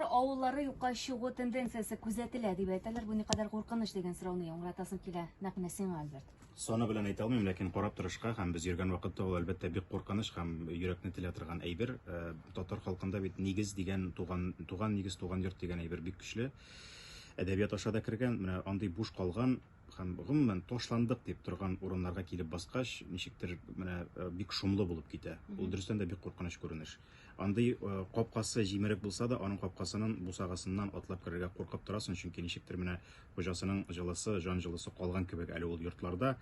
авыллары юкка чыгу тенденциясе күзәтелә дип әйтәләр. Бу никадәр куркыныч дигән сорауны яңгыратасым килә. Нәкъ менә сиңа, Альберт. Саны белән әйтә алмыйм, ләкин карап торышка һәм без йөргән вакытта ул әлбәттә бик куркыныч һәм йөрәкне телә торган әйбер. Э, татар халкында бит нигез дигән туган туган нигез туган йорт дигән әйбер бик көчле. Әдәбият аша да кергән, менә андый буш калган һәм гомумән ташландык дип торган урыннарга килеп баскач, ничектер менә э, бик шомлы булып китә. Ул дөрестән дә бик куркыныч күренеш. Андый капкасы җимерек булса да, аның капкасынын бусагасыннан атлап керергә куркып торасың, чөнки ничектер менә хуҗасының җылысы, җан җылысы калган кебек әле ул йортларда.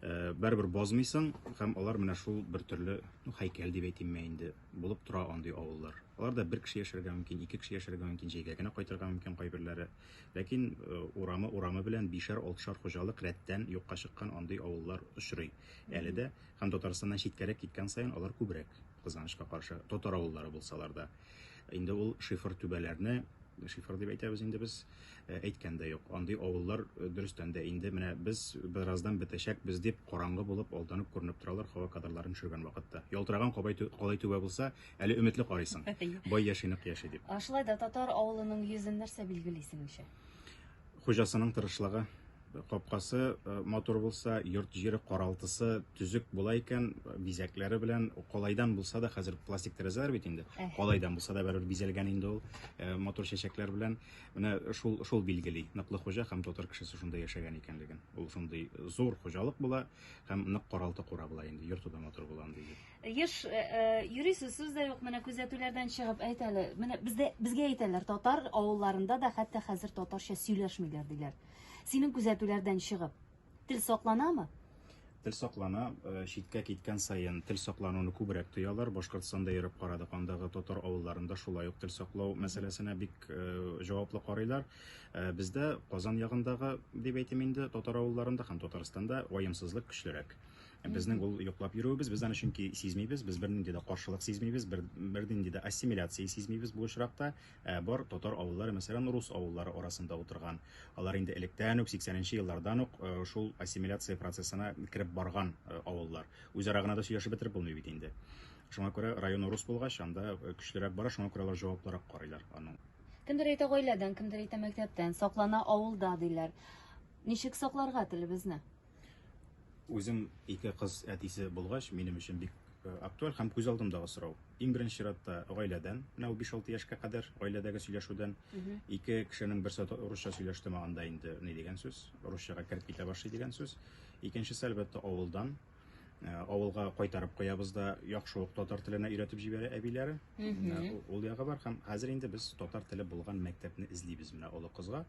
Барыбер базмыйсың һәм алар менә шул бер төрле, ну, һәйкәл дип әйтимме инде, булып тора андый авыллар. Аларда бер кеше яшәргә мөмкин, ике кеше яшәргә мөмкин, җәйгә генә кайтырга мөмкин кайберләре. Ләкин урамы урамы белән бишәр, алтышар хуҗалык рәттән юкка чыккан андый авыллар очрый әле дә. Һәм Татарстаннан читкәрәк киткән саен алар күбрәк. Кызганычка каршы, татар авыллары булсалар да, инде ул шифр түбәләрне шифр дип әйтәбез инде без, э, әйткән дә юк. Андый авыллар э, дөрестән дә инде менә без бераздан бетәчәкбез дип караңгы булып алданып күренеп торалар һава кадрларын төшергән вакытта. Ялтыраган кабай калай түбә булса, әле өметле карыйсың. Бай яши нык яши дип. Шулай да татар авылының йөзен нәрсә билгели синеңчә? Хуҗасының тырышлыгы, Капкасы матур булса, йорт җире каралтысы төзек була икән, бизәкләре белән калайдан булса да, хәзер пластик тәрәзәләр бит инде. Калайдан булса да бәрер бизәлгән инде ул матур чәчәкләр белән. Менә шул шул билгели. Ныклы хуҗа һәм татар кешесе шунда яшәгән икәнлеген. Ул шундый зур хуҗалык була һәм нык каралты кура була инде. Йорты да матур була инде. Еш юрисез сүз дә юк, менә күзәтүләрдән чыгып әйтәле. Менә бездә безгә әйтәләр, татар авылларында да хәтта хәзер татарча сөйләшмиләр диләр. Синең күзәтүләрдән чыгып, тел сакланамы? Тел саклана, э, читкә киткән саен тел саклануны күбрәк тоялар. Башкортстанда йөреп карадык, андагы татар авылларында шулай ук тел саклау мәсьәләсенә бик э, җаваплы карыйлар. Э, бездә Казан ягындагы, дип әйтим инде, татар авылларында һәм Татарстанда ваемсызлык көчлерәк. Безнең ул йоклап йөрүебез, без аны чөнки сизмибез, без бернинди дә каршылык сизмибез, бер, бернинди дә ассимиляция сизмибез бу очракта. Ә бар татар авыллары, мәсәлән, рус авыллары арасында утырган. Алар инде электән үк, 80 нче еллардан ук э, шул ассимиляция процессына кереп барган э, авыллар. Үзара гына да сөйләшеп бетереп булмый бит инде. Шуңа күрә районы рус булгач, анда э, көчлерәк бара, шуңа күрә алар җаваплырак карыйлар аның. Кемдер әйтә гаиләдән, кемдер әйтә мәктәптән, саклана авылда диләр. Ничек сакларга телебезне? Үзем ике кыз әтисе булгач, минем өчен бик э, актуаль һәм күз алдымдагы сорау. Иң беренче чиратта гаиләдән, менә 5-6 яшькә кадәр гаиләдәге сөйләшүдән ике кешенең берсе русча сөйләште маганда инде ни дигән сүз, русчага кереп китә башлый дигән сүз. Икенчесе әлбәттә авылдан, Э, авылга кайтарып куябыз да яхшы ук татар теленә өйрәтеп җибәрә әбиләре ул ягы бар һәм хәзер инде без татар теле булган мәктәпне эзлибез менә олы кызга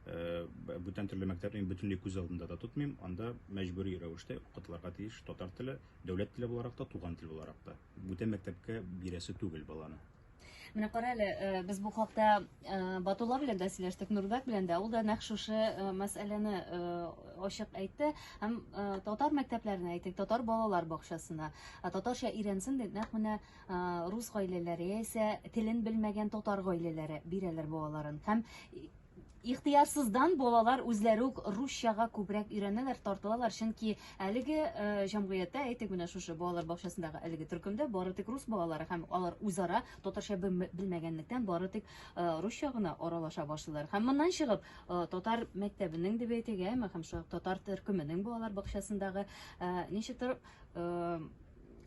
Э, бүтән төрле мәктәпне бөтенләй күз алдында да тотмыйм анда мәҗбүри рәвештә укытылырга тиеш татар теле дәүләт теле буларак та туган тел буларак та бүтән мәктәпкә бирәсе түгел баланы менә кара әле э, без бу хакта э, батулла белән дә сөйләштек нурбәк белән дә ул да нәкъ шушы мәсьәләне ачык әйтте һәм татар мәктәпләренә әйтик татар балалар бакчасына татарча өйрәнсен дип нәкъ менә рус гаиләләре яисә телен белмәгән татар гаиләләре бирәләр балаларын һәм ихтыярсыздан балалар үзләре үк русчага күбрәк өйрәнәләр, тартылалар, чөнки әлеге э, җәмгыятьтә, әйтик менә шушы балалар бакчасындагы әлеге төркемдә бары тик рус балалары һәм алар үзара татарча белмәгәнлектән бары тик э, русча гына аралаша башлыйлар. Һәм моннан чыгып, э, татар мәктәбенең дип әйтегә, һәм шул татар төркеменең балалар бакчасындагы ничектер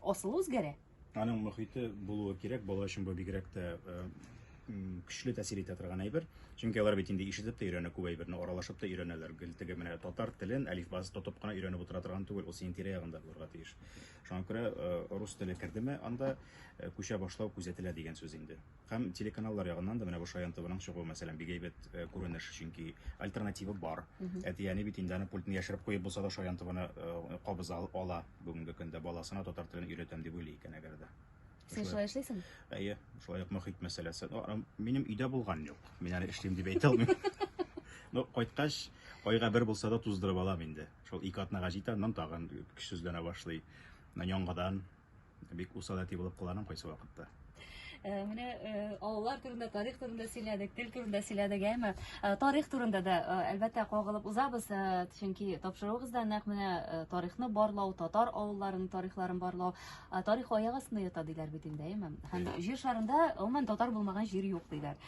Асылы үзгәрә. Аның мөхите булуы кирәк, бала өчен бу бигрәк тә э, көчле тәэсир итә торган әйбер. Чөнки алар бит инде ишетеп тә өйрәнә күп әйберне, аралашып та өйрәнәләр. Гел теге менә татар телен әлифбасы тотып кына өйрәнеп утыра торган түгел, ул синең тирә-ягында булырга тиеш. Шуңа күрә э, рус теле кердеме анда э, күчә башлау күзәтелә дигән сүз инде. Һәм телеканаллар ягыннан да менә бу Шаян ТВның чыгуы, мәсәлән, бик әйбәт күренеш, чөнки альтернатива бар. Әти-әни бит инде аны пультны яшереп куеп булса да Шаян ТВны кабыз ала бүгенге көндә, баласына татар телен өйрәтәм дип уйлый икән әгәр дә. Син шулай эшлисең? Әйе, шулай ук мөхит мәсьәләсе. Минем өйдә булган юк. Мин әле эшлим дип әйтә алмыйм. Ну, кайткач, айга бер булса да туздырып алам инде. Шул ике атнага җитә, аннан тагын көчсезләнә башлый. Яңадан Бик усал әти булып кыланым кайсы вакытта. Э, менә э, авыллар турында тарих турында сөйләдек тел турында сөйләдек әмма э, тарих турында да әлбәттә кагылып узабыз чөнки тапшыруыгыз да нәкъ менә тарихны барлау татар авылларының тарихларын барлау тарих аяк астында ята диләр бит инде әйме һәм җир шарында гомумән татар булмаган җир юк диләр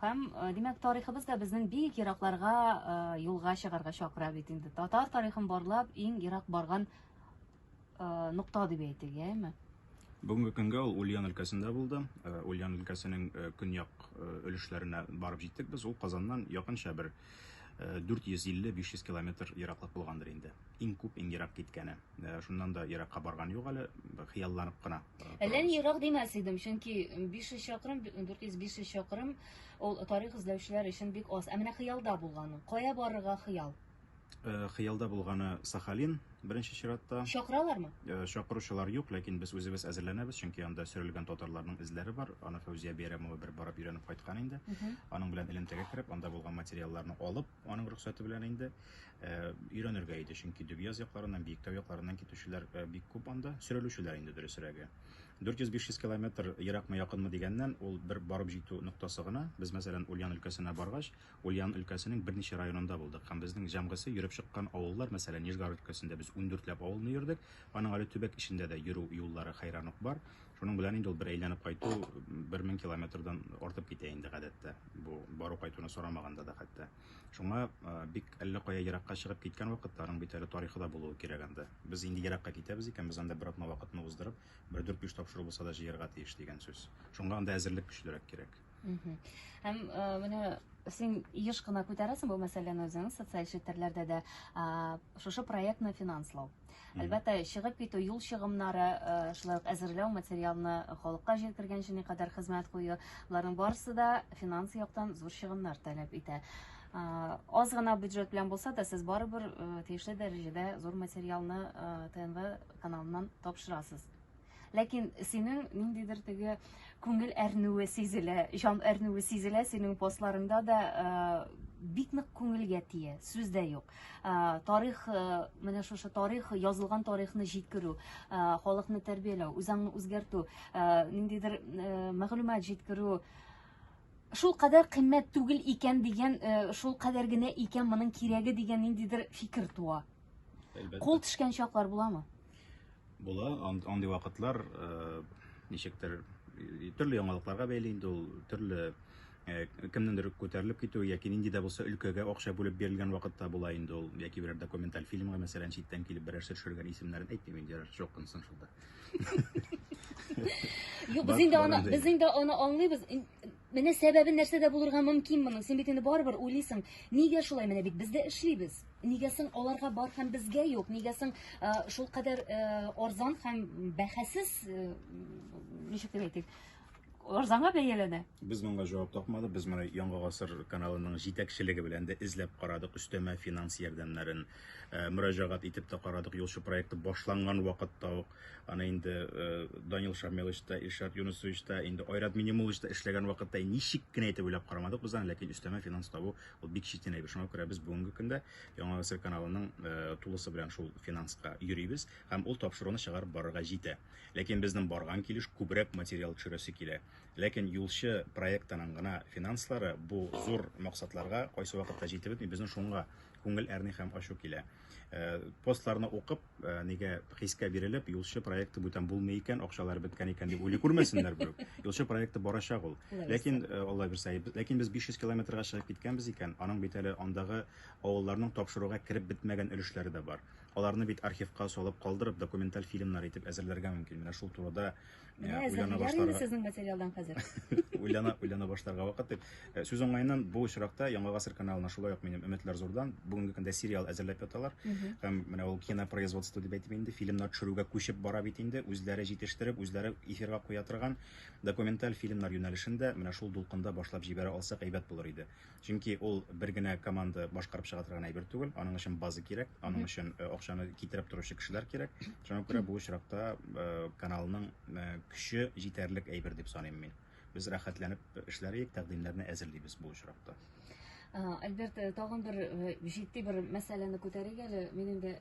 һәм димәк тарихыбыз да безнең бик еракларга юлга чыгарга чакыра бит инде татар тарихын барлап иң ерак барган нокта дип әйтик, яме? Бүгенге көнгә ул Ульян өлкәсендә булды. Э, Ульян өлкәсенең э, көньяк э, өлешләренә барып җиттек без. Ул Казаннан якынча бер 450-500 километр ераклык булгандыр инде. Иң күп, иң ерак киткәне. Шуннан да еракка барган юк әле, хыялланып кына. Әллә ни ерак димәс идем, чөнки 500 чакрым, 400-500 чакрым ул тарих эзләүчеләр өчен бик аз. Ә менә хыялда булган. Кая барырга хыял? Э, хыялда булганы Сахалин беренче чиратта. Чакыралармы? Э, чакыручылар юк, ләкин без үзебез әзерләнәбез, чөнки анда сөрелгән татарларның эзләре бар. Аны Фәүзия Бәйрәмова бер барып өйрәнеп кайткан инде. Аның белән элемтәгә кереп, анда булган материалларны алып, аның рөхсәте белән инде э, өйрәнергә иде, чөнки Дөбияз якларыннан, Биектау якларыннан китүчеләр бик күп анда, сөрелүчеләр инде дөресрәге. 400-500 километр еракмы якынмы дигәннән, ул бер барып җитү ноктасы гына. Без, мәсәлән, Ульян өлкәсенә баргач, Ульян өлкәсенең берничә районында булдык һәм безнең җәмгысе йөреп чыккан авыллар, мәсәлән, Нижгар өлкәсендә без ундүртләп авылны йөрдек, аның әле төбәк эчендә дә йөрү юллары хәйран ук бар. Шуның белән инде ул бер әйләнеп кайту бер мең километрдан артып китә инде гадәттә, бу бару-кайтуны сорамаганда да хәтта. Шуңа бик әллә кая еракка чыгып киткән вакытта, аның бит әле тарихы да булуы кирәк анда. Без инде еракка китәбез икән, без анда бер атна вакытны уздырып, бер дүрт-биш тапшыру булса да җыярга тиеш дигән сүз. Шуңа анда әзерлек көчлерәк кирәк. Һәм менә син еш кына күтәрәсең бу мәсьәләне үзең социаль челтәрләрдә дә шушы проектны финанслау әлбәттә чыгып китү юл чыгымнары шулай ук әзерләү материалны халыкка җиткергәнче никадәр хезмәт кую боларның барысы да финанс яктан зур чыгымнар таләп итә аз гына бюджет белән булса да сез барыбер тиешле дәрәҗәдә зур материалны тнв каналыннан тапшырасыз Ләкин синең ниндидер теге күңел әрнүе сизелә, җан әрнүе сизелә синең постларыңда да бик нык күңелгә тия, сүз дә юк. Тарих, менә шушы тарих, язылган тарихны җиткерү, халыкны тәрбияләү, үзаңны үзгәртү, ниндидер мәгълүмат җиткерү шул кадәр кыйммәт түгел икән дигән, шул кадәр генә икән моның кирәге дигән ниндидер фикер туа. Кул төшкән чаклар буламы? Була, андый вакытлар ничектер төрле яңалыкларга бәйле инде ул төрле кемнеңдер күтәрелеп китү яки нинди дә булса өлкәгә акча бүлеп бирелгән вакытта була инде ул яки берәр документаль фильмга мәсәлән читтән килеп берәрсе төшергән исемнәрен әйтмим инде ярар шок кынсын шунда юк без инде аны без инде аны аңлыйбыз Менә сәбәбе нәрсәдә булырга мөмкин моның? Син бит инде барыбер уйлыйсың, нигә шулай? Менә бит без дә эшлибез. Нигә соң аларга бар һәм безгә юк? Нигә соң э, шул кадәр э, арзан һәм бәһасез, э, ничек дип әйтик, арзанга бәяләнә? Без моңа җавап тапмадык. Без моны Яңа гасыр каналының җитәкчелеге белән дә эзләп карадык. Өстәмә финанс ярдәмнәрен э, мөрәҗәгать итеп тә карадык. Юлчы проекты башланган вакытта ук Аны инде Данил Шамилович та, Илшат Юнусович та, инде Айрат Минимулович та эшләгән вакытта ничек кенә итеп уйлап карамадык без аны, ләкин өстәмә финанс табу ул бик читен әйбер. Шуңа күрә без бүгенге көндә Яңа гасыр каналының тулысы белән шул финанска йөрибез һәм ул тапшыруны чыгарып барырга җитә. Ләкин безнең барган килеш күбрәк материал төшерәсе килә. Ләкин юлчы проектының гына финанслары бу зур максатларга кайсы вакытта җитеп бетми, безнең шуңа күңел әрни һәм ачу килә. Э, постларны укып э, нигә хискә бирелеп юлчы проекты бүтән булмый икән акчалар беткән икән дип уйлый күрмәсеннәр берүк юлчы проекты барачак ул ләкин э, алла бирсә ләкин без 500 километрга чыгып киткәнбез икән аның бит әле андагы авылларның тапшыруга кереп бетмәгән өлешләре дә бар аларны бит архивка салып калдырып документаль фильмнар итеп әзерләргә мөмкин менә шул турыда Менә уйлана зәһәрләр инде башларга сезнең материалдан хәзер. уйлана уйлана башларга вакыт дип. Э, Сүз уңаеннан бу очракта Яңа гасыр каналына шулай ук минем өметләр зурдан. Бүгенге көндә сериал әзерләп яталар. Һәм менә ул кинопроизводство дип әйтеп инде фильмнар төшерүгә күчеп бара бит инде. Үзләре җитештереп, үзләре эфирга куя торган документаль фильмнар юнәлешен дә менә шул дулкында башлап җибәрә алсак әйбәт булыр иде. Чөнки ул бер генә команда башкарып чыга торган әйбер түгел. Аның өчен база кирәк, аның өчен э, акчаны китереп торучы кешеләр кирәк. Шуңа күрә бу очракта э, каналның э, көче җитәрлек әйбер дип саныйм мин. Без рәхәтләнеп эшләриек, тәкъдимнәрне әзерлибез бу очракта. Альберт, тагын бер җитди бер мәсьәләне күтәрик әле. Мин инде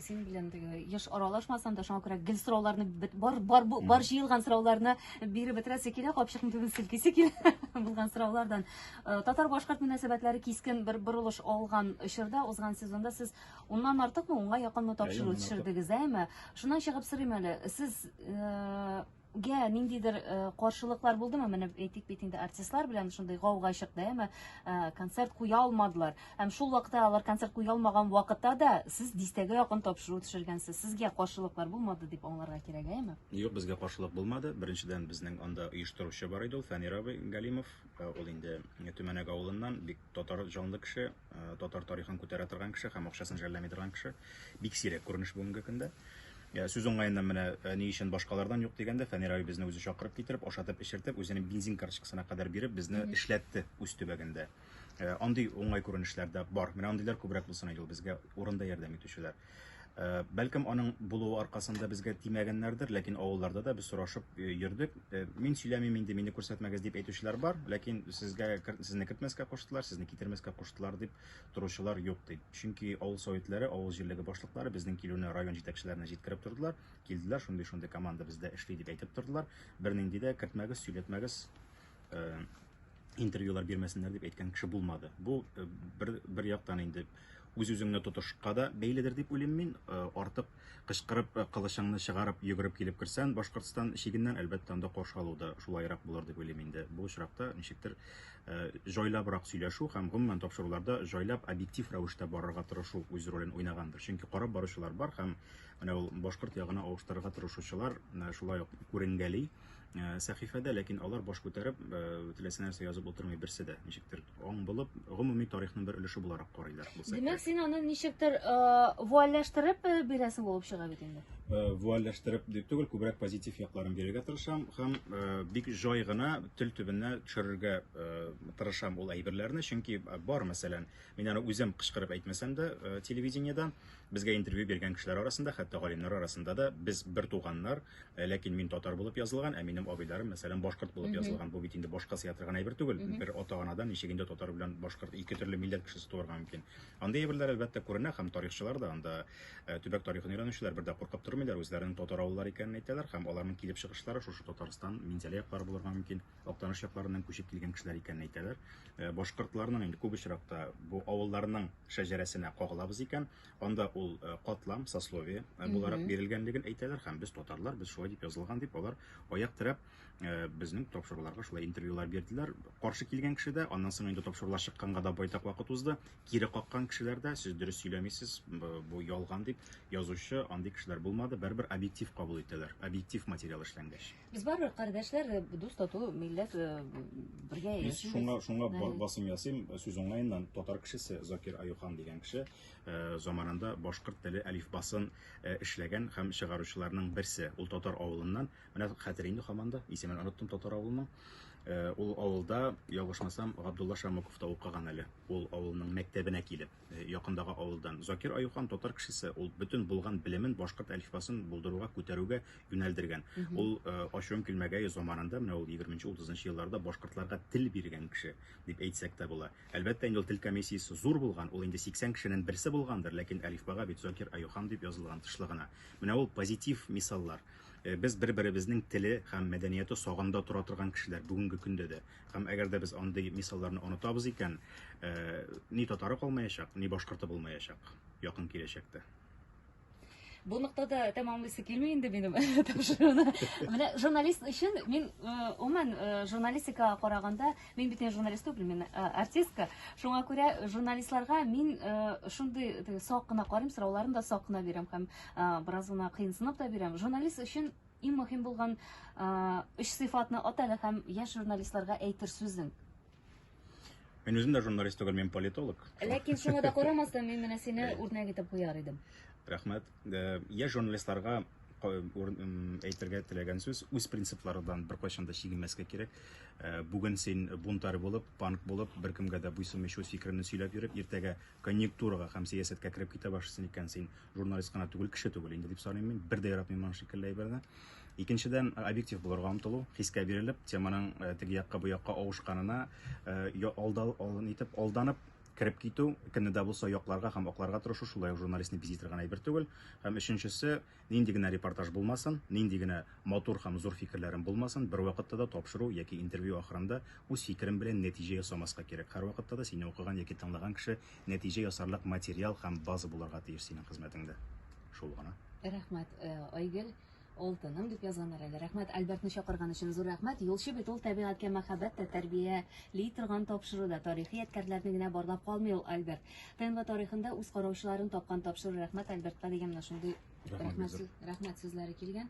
синең белән теге еш аралашмасам да шуңа күрә гел сорауларны бар бар бар җыелган сорауларны биреп бетерәсе килә капчыкны түбен селкисе килә булган сораулардан э, татар башкорт мөнәсәбәтләре кискен бер борылыш алган очырда узган сезонда сез уннан артыкмы унга якынмы тапшыру төшердегез әйме шуннан чыгып сорыйм әле сез э, гә ниндидер э, каршылыклар булдымы менә әйтик бит инде артистлар белән шундый гауга чыкты әмма э, концерт куя алмадылар һәм шул вакытта алар концерт куя алмаган вакытта да сез дистәгә якын тапшыру төшергәнсез сезгә каршылыклар булмады дип аңларга кирәк әйме юк безгә каршылык булмады беренчедән безнең анда оештыручы бар иде ул фәнир абый галимов Э, ул инде төмәнәк авылыннан бик татар җанлы кеше э, татар тарихын күтәрә торган кеше һәм акчасын жәлләми торган кеше бик сирәк күренеш бүгенге көндә э, сүз уңаеннан менә ни өчен башкалардан юк дигәндә фәнир абый безне үзе чакырып китереп ашатып эчертеп үзенең бензин карточкасына кадәр биреп безне эшләтте үз төбәгендә андый уңай күренешләр дә бар менә андыйлар күбрәк булсын иде ул безгә урында ярдәм итүчеләр Бәлкем, аның булуы аркасында безгә тимәгәннәрдер, ләкин авылларда да без сорашып йөрдек. Мин сөйләмим инде, мине күрсәтмәгез, дип әйтүчеләр бар, ләкин сезгә, сезне кертмәскә куштылар, сезне китермәскә куштылар, дип торучылар юк, ди. Чөнки авыл советлары, авыл җирлеге башлыклары безнең килүне район җитәкчеләренә җиткереп тордылар, килделәр, шундый-шундый команда бездә эшли, дип әйтеп тордылар. Бернинди дә кертмәгез, сөйләтмәгез, интервьюлар бирмәсеннәр, дип әйткән кеше булмады. Бу бер яктан инде. Үз-үзеңне тотышка да бәйледер дип уйлыйм мин. Артык кычкырып, кылычыңны чыгарып, йөгереп килеп керсән Башкортстан чигеннән, әлбәттә, анда каршы алу да шулайрак булыр дип уйлыйм инде. Бу очракта ничектер җайлабрак сөйләшү һәм, гомумән, тапшыруларда җайлап, объектив рәвештә барырга тырышу үз ролен уйнагандыр. Чөнки карап баручылар бар һәм менә ул башкорт ягына авыштырырга тырышучылар шулай ук күренгәли. Э, сәхифәдә, ләкин алар баш күтәреп, э, теләсә нәрсә язып утырмый берсе дә. Ничектер аң булып, гомуми тарихның бер өлеше буларак карыйлар. Димәк, син аны ничектер э, вуальләштереп бирәсең булып чыга бит инде. Вуальләштереп дип түгел, күбрәк позитив якларын бирергә тырышам һәм бик җай гына тел төбенә төшерергә тырышам ул әйберләрне, чөнки бар, мәсәлән, мин аны үзем кычкырып әйтмәсәм дә, телевидениедә безгә интервью биргән кешеләр арасында, хәтта галимнәр арасында да без бер туганнар, Э, ләкин мин татар булып язылган, ә минем абыйларым, мәсәлән, башкорт булып язылган. Бу бит инде башка сыя торган әйбер түгел. Бер ата-анадан ничек инде татар белән башкорт ике төрле милләт кешесе туарга мөмкин. Андый әйберләр әлбәттә күренә һәм тарихчылар да анда э, төбәк тарихын өйрәнүчеләр бер дә куркып тормыйлар, үзләренең татар авыллары икәнен әйтәләр һәм аларның килеп чыгышлары шушы Татарстан, Минзәлә яклары булырга мөмкин, Актаныш якларыннан күчеп килгән кешеләр икәнен әйтәләр. Э, башкортларның инде күп очракта бу авылларның шәҗәрәсенә кагылабыз икән, Анда ул катлам, сословие буларак бирелгәнлеген әйтәләр һәм без татарлар, без шулай дип язылган дип алар аяк терәп безнең тапшыруларга шулай интервьюлар бирделәр. Каршы килгән кеше дә, аннан соң инде тапшырулар чыкканга да байтак вакыт узды. Кире каккан кешеләр дә, сез дөрес сөйләмисез, бу ялган дип язучы, андый кешеләр булмады. Бәрбер объектив кабул итәләр, объектив материал эшләнгәч. Без барыбер кардәшләр, дус тату милләт бергә яшибез. Шуңа шуңа басым ясыйм сүз уңаеннан татар кешесе Закир Аюхан дигән кеше заманында башкорт теле әлифбасын эшләгән һәм чыгаручыларның берсе. Ул татар авылыннан, менә хәтер инде хаман да, исемен оныттым татар авылының. Ул авылда, ялгышмасам, Габдулла Шамыков та укыган әле. Ул авылның мәктәбенә килеп, якындагы авылдан. Закир Аюхан татар кешесе, ул бөтен булган белемен башкорт әлифбасын булдыруга, күтәрүгә юнәлдергән. Ул, ачуым килмәгәе, заманында, менә ул егерменче-утызынчы елларда башкортларга тел биргән кеше, дип әйтсәк тә була. Әлбәттә инде ул тел комиссиясе зур булган, ул инде 80 кешенен берсе булгандыр, ләкин әлифбага бит Зокир Аюхан дип язылган тышлы гына. Менә ул позитив мисаллар. Без бер-беребезнең теле һәм мәдәнияты сагында тора торган кешеләр бүгенге көндә дә. Һәм әгәр дә без андый мисалларны онытабыз икән, ни татары калмаячак, ни башкорты булмаячак якын киләчәктә. Бу ноктада тәмамлыйсы килми инде минем тапшыруны. Менә журналист өчен мин уман журналистикага караганда, мин бит журналист түгел, мин артистка. Шуңа күрә журналистларга мин шундый сак кына карыйм, сорауларын да сак кына бирәм һәм бераз гына кыенсынып та бирәм. Журналист өчен иң мөһим булган өч сыйфатны атады һәм яшь журналистларга әйтер сүзең. Мин үзем дә журналист түгел, мин политолог. Ләкин шуңа да карамастан, мин менә сине э. үрнәк итеп куяр идем. Рәхмәт. Э, я журналистларга әйтергә теләгән сүз үз принципларыдан беркайчан да чигенмәскә кирәк э, бүген син бунтарь булып панк булып беркемгә дә буйсынмыйча үз фикереңне сөйләп йөреп иртәгә конъюнктурага һәм сәясәткә кереп китә башлыйсың икән, син журналист кына түгел, кеше түгел инде дип саныйм мин. Бер дә яратмыйм моның шикелле әйберне. Икенчедән, объектив булырга омтылу, хискә бирелеп, теманың э, теге якка бу якка авышканына э, алдал, алын итеп, алданып кереп китү, кемне дә булса якларга һәм акларга тырышу шулай ук журналистны бизитер генә әйбер түгел. Һәм өченчесе, Нинди генә репортаж булмасын, нинди генә матур һәм зур фикерләрем булмасын, бервакытта да тапшыру яки интервью ахырында үз фикерем белән нәтиҗә ясамаска кирәк. Һәрвакытта да сине укыган яки тыңлаган кеше нәтиҗә ясарлык материал һәм база булырга тиеш синең хезмәтеңдә. Шул гына. Рәхмәт, э, Айгөл. Алтыным дип язганнар әле. Рәхмәт, Альбертны чакырган өчен зур рәхмәт. Юлчы бит ул тәбигатькә мәхәббәт тә тәрбияли торган тапшыруда. Тарихи ядкәрләрне генә барлап калмый ул Альберт. ТНВ тарихында үз караучыларын тапкан тапшыру рәхмәт Альбертка дигән менә шундый рәхмәт, рәхмәт сүзләре килгән.